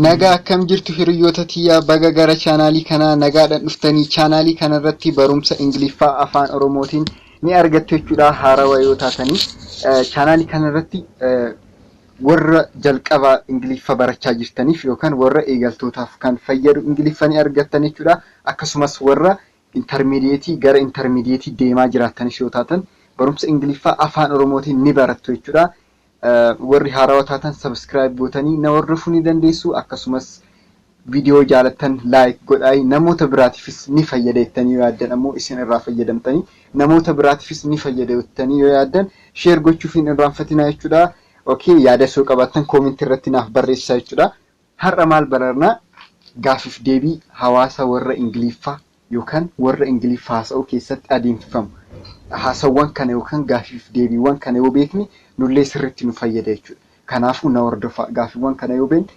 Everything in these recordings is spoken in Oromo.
Nagaa akkam jirtu hiriyyoota tiyyaa baga gara chaanaalii kanaa nagaadhaan dhuftanii chaanaalii kanarratti barumsa Ingiliffaa afaan Oromootiin ni argattu jechuudha haarawa yoo taatanii chaanaalii kanarratti Warra jalqaba Ingiliffa barachaa jirtaniif yookaan warra eegaltootaaf kan fayyadu Ingiliffa ni argattan jechuudha. Akkasumas warra intermediate gara intermediate deemaa jiraattanis yoo taatan barumsa Ingiliffaa afaan Oromootiin ni barattu jechuudha. Warri haarawa taatan subscribe gootanii na hordofuu ni dandeessu. Akkasumas Video jaalattan like godhaayi namoota biraatifis ni fayyada jettanii yoo yaaddan ammoo isin irraa fayyadamtanii namoota biraatifis ni fayyada jettanii yoo yaaddan share gochuuf hin irraanfatinaa jechuudha. Ok yaada osoo qabaattan comment irratti naaf barreessaa jechuudha. Har'a maal bararna gaafif deebii hawaasa warra Ingiliffaa yookan warra Ingiliffa haasa'uu keessatti adeemsifamu haasawwan kana yookan gaafif deebiiwwan kana yoo beekne nullee sirritti nu fayyada jechuudha. Kanaafuu na hordofaa gaafiwwan kana yoo beekne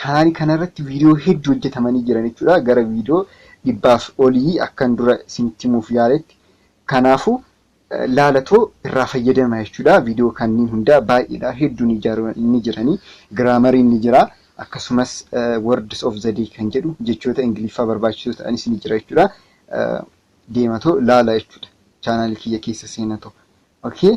Chanaali kana irratti viidiyoo hedduu hojjetamanii jiran jechuudha. Gara viidiyoo dhibbaaf olii akkan dura isinitti himuuf yaaletti. Kanaafuu laalatoo irraa fayyadama jechuudha. Viidiyoo kanneen hundaa baay'eedha. Hedduun ijaaru ni jiranii. Giraamariin ni jira. Akkasumas words of the day kan jedhu jechoota Ingiliffaa barbaachisoo ta'anis ni jira jechuudha. Deematoo laala jechuudha. Chaanaalii kiyya keessa seenatoo. Okay.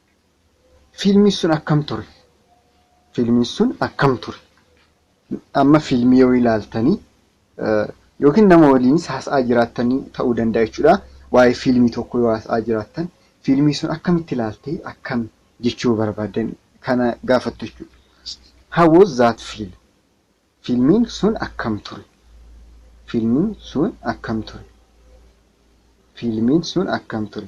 Fiilmiin sun akkam ture? Fiilmiin sun akkam ture? Amma fiilmii yoo ilaaltanii yookiin nama waliinis haasa'aa jiraattan ta'uu danda'a jechuudha. Waa'ee fiilmii tokko yoo haasa'aa jiraattan fiilmii sun akkamitti ilaaltee akkam jechuu barbaaddan kana gaafattu jechuudha. How was that film? Fiilmiin sun akkam ture? Fiilmiin sun akkam ture? Fiilmiin sun akkam ture?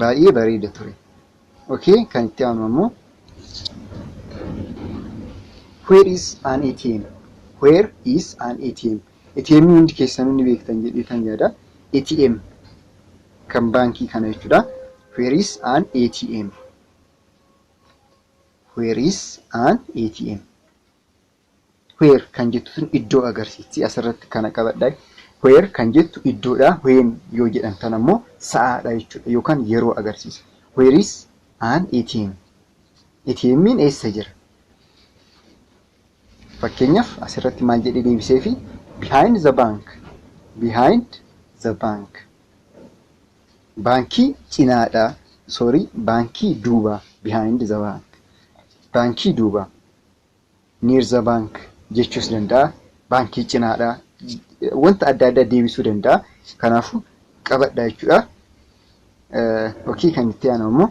Baay'ee bareeda ture. Okay, kan itti aanu ammoo Where is an ATM? Where is an ATM? ATM hundi keessanuu ni beektan jedhee kan yaada. ATM kan baankii kana jechuudha. Where is an ATM? Where is an ATM? where kan jettu sun iddoo agarsiisti asirratti kana qabadha where kan jettu iddoodha when yoo jedhan tan ammoo sa'aadha jechuudha yookaan yeroo agarsiisa where is an ATM ATM'n eessa jira fakkeenyaaf asirratti maal jedhee deebisee fi behind the bank behind the bank baankii cinaadha sorry baankii duuba behind the bank baankii duuba Near the bank jechuus danda'a. Baankii cinaadha. Wanta adda addaa deebisuu danda'a. Kanaafuu qabadha jechuudha. Yookiin kan itti aanu ammoo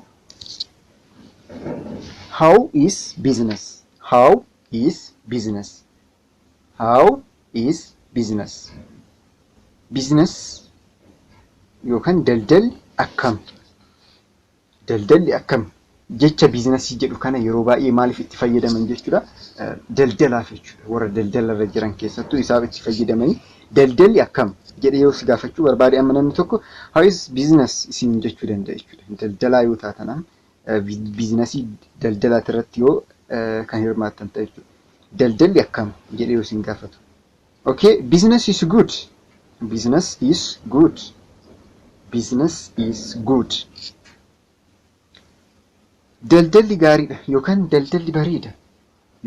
how is business? How is business? How is business? Business yookaan daldalli akkam? Daldalli akkami? Jecha biiznasii jedhu kana yeroo baay'ee maaliif itti fayyadaman jechuudha? Daldalaaf jechuudha. Warra daldalarra jiran keessattuu isaaf itti fayyadamanii daldalli akkam jedhee yoo si gaafachuu barbaade amma namni tokko how is business isin jechuu danda'a jechuudha. Daldalaa yoo taatan amma biiznasii daldalaati irratti yoo kan hirmaattan ta'e jechuudha. Daldalli akkam jedhee yoo isin gaafatu Ok business is good business is good business is good daldalli gaariidha yookaan daldalli bareeda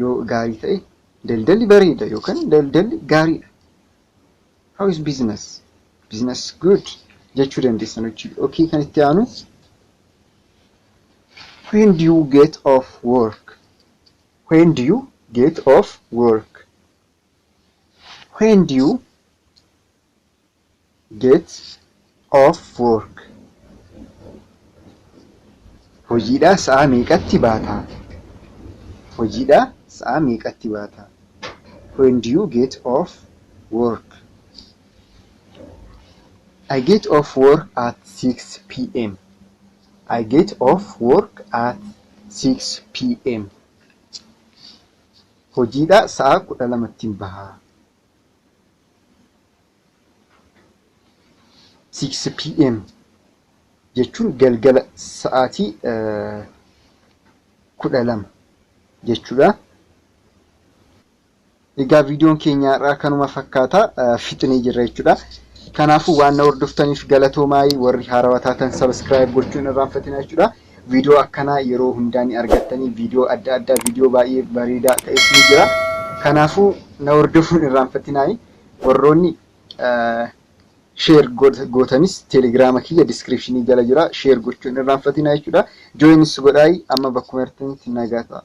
yoo gaarii ta'e daldalli bareeda yookaan daldalli gaariidha how is business business good jechuu dandeessan hojii ok kan itti aanu when do you get off work when do you get off work when do you get off work hojiidhaa sa'a meeqatti baataa hojiidhaa sa'a meeqatti baataa when do you get off work I get off work at 6 p.m. I get off work at 6 p.m. Hojiidhaa sa'a kudha lamattin baha. 6pm jechuun galgala sa'aatii kudha lama jechuudha. Egaa viidiyoon keenya har'aa kanuma fakkaata fixnee jirra jechuudha. Kanaafuu waan na hordoftaniif galatoomaa warri haarawaa taatan sabiskiraayib gochuun irraanfatina jechuudha. Viidiyoo akkanaa yeroo hundaa ni argattanii viidiyoo adda addaa viidiyoo baay'ee bareedaa ta'es ni jira. Kanaafuu na hordofuun irraanfatinaayii warroonni sheer gootanis teelegiraama kiyya diskiripshinii jala jira sheer gochuun irraanfatinaa jechuudha. Jooyinis godhaayi amma bakkuma jirtanitti nagaa ta'a.